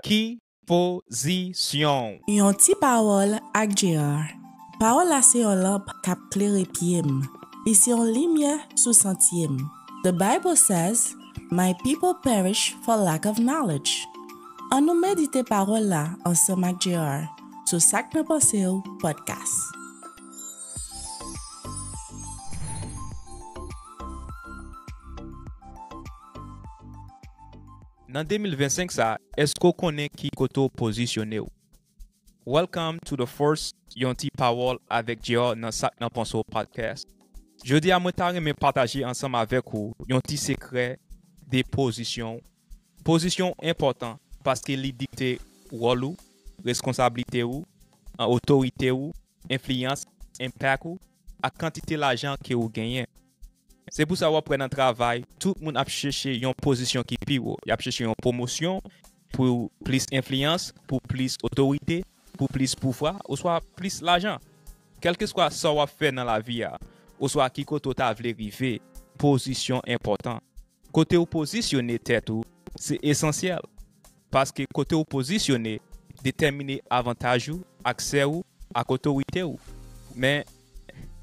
Ki pozisyon w? Yon ti pawòl ak Gérard. Pawòl la se yon lanp k ap klere pye m, li se yon limyè sou santye m. The Bible says, My people perish for lack of knowledge. An nou medite pawòl la ansanm ak Gérard sou Sak nan Panse w Podcast. Nan 2025 sa eske w konnen ki kote w pozisyone w? Welcome to the first Yon ti pawòl avèk Jr nan Sak nan Panse w Podcast. Jodi a mwen ta renmen pataje ansanm avèk ou yon ti sekrè de pozisyon w. Pozisyon w enpòtan paske li dikte wòl ou, reskonsablite ou, otorite ou, enfliyans, impact ou ak kantite lajan ke ou genyen. Se pou sa wap wè nan travay tout moun ap cheche yon pozisyon ki pi wo, yap cheche yon pwomosyon pou plis enfliyans, pou plis otorite, pou plis pouvwa oswa plis lajan. Kèlkeswa sa wap fè nan lavi a oswa ki kote w ta vle rive, pozisyon enpòtan. Kote w pozisyone tèt ou se esansyèl, paske kote w pozisyone detèmine avantaj ou, aksè ou ak otorite ou. Men,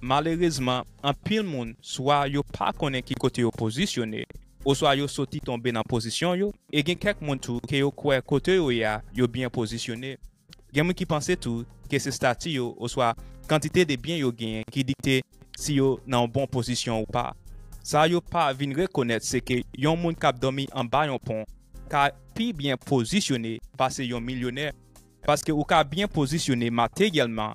malerezman, anpil moun swa yo pa konnen ki kote yo pozisyone, oswa yo soti tonbe nan pozisyon yo, e gen kèk moun tou ke yo kwè kote yo ye a yo byen pozisyone. Gen moun ki panse tou ke se stati yo oswa kantite de byen yo genyen ki dikte si yo nan yon bon pozisyon ou pa. Sa yo pa vin rekonèt se ke yon moun k ap dòmi anba yon pon ka pi byen pozisyone pase yon milyonè paske ou ka byen pozisyone materyèlman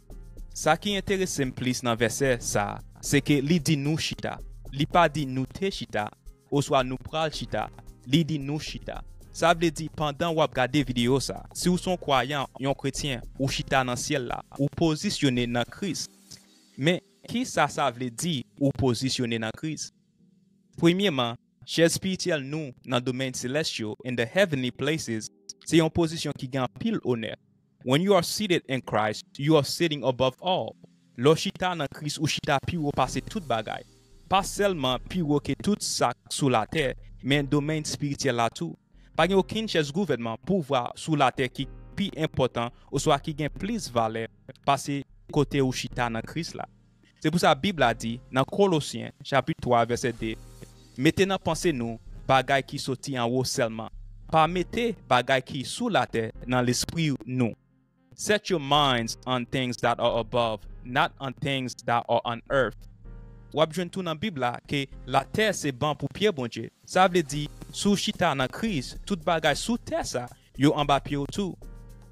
Sa ki enterese m plis nan vèsè sa a, se ke li di nou chita. Li pa di nou te chita oswa nou pral chita, li di nou chita. Sa vle di pandan w ap gade videyo sa a, si w se yon kwayan, yon kretyen, ou chita nan syèl la, ou pozisyone nan Kris. Men, ki sa sa vle di ou pozisyone nan Kris? Premyeman, chèz spirityèl nou nan domèn selès yo, in the heavenly places, se yon pozisyon ki gen anpil onè. When you are seated in Christ, you are sitting above all, Lè w chita nan Kris ou chita pi wo pase tout bagay. Pa sèlman pi wo ke tout sa k sou latè, men domèn espirityèl la tou. Pa gen okenn chèz gouvènman, pouvwa, sou latè ki pi enpòtan oswa ki gen plis valè pase kote ou chita nan Kris la. Se pou sa Bib la di nan Kolosyen chapit 3 vèsè 2, Mete nan panse nou bagay ki soti anwo sèlman, pa mete bagay ki sou latè nan lespri nou. Set your minds on things that are above, not on things that are on earth. W ap jwenn tou nan Bib la ke latè se ban pou pye Bondye. Sa vle di, si w chita nan Kris, tout bagay sou tè sa Yo anba pye w tou.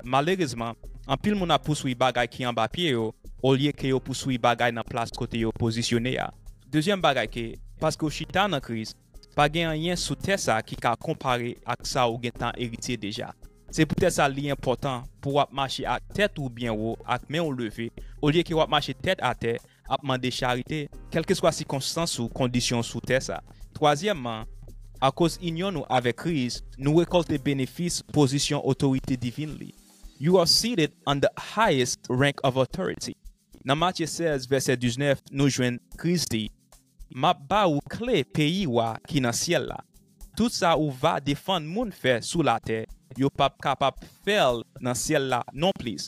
Malerezman, anpil moun ap pouswi bagay ki anba pye yo olye ke yo pouswi bagay nan plas kote yo pozisyone a. Dezyèm bagay ke, paske w chita nan Kris, pa gen anyen sou tè sa ki ka konpare ak sa ou gentan eritye deja. Se poutèt sa li enpòtan pou w ap mache ak tèt ou byen wo ak men w leve, olye ke w ap mache tèt atè ap mande charite, kèlkeswa sikonstans ou kondisyon w sou tè sa. Twazyèmman, akoz inyon nou avèk Kris, nou rekòlte benefis pozisyon otorite divin li. You are seated on the highest rank of authority. Nan Matye 16, vèsè 19, nou jwenn Kris di, M ap ba ou kle peyi wa ki nan syèl la. Tout sa ou va defann moun fè sou latè, yo p ap kapab fè l nan syèl la nonplis.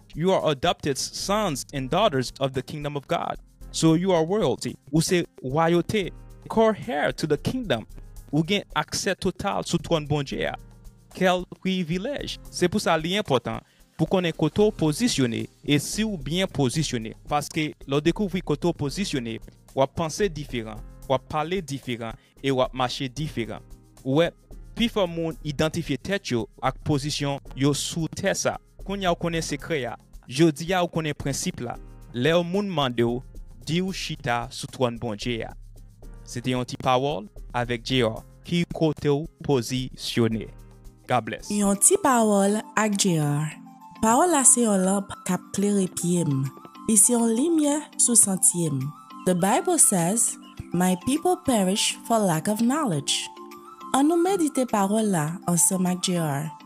You are adopted sons and daughters of the kingdom of God. So you are royalty. Ou se wayote. Co-heir to the kingdom. Ou gen aksè total sou twòn Bondye a. Kèl privilèj! Se pou sa li enpòtan pou konnen kote w pozisyone e si w byen pozisyone. Paske lè w dekouvri kote w pozisyone, w ap panse diferan, w ap pale diferan e w ap mache diferan. Ou wè, pifò moun idantifye tèt yo ak pozisyon yo sou tè sa a. Kounya w konnen sekrè a. Jodi a ou konnen prensip la. Lè yon moun mande w, di ou chita sou twòn Bondye a. Se te yon ti pawòl avèk JR. Ki kote w pozisyone? God bless. Yon ti pawòl ak JR. Pawòl la se yon lanp k ap klere pye m. Li se yon limyè sou santye m. The Bible says, My people perish for lack of knowledge. Annou medite pawòl la ansanm ak JR.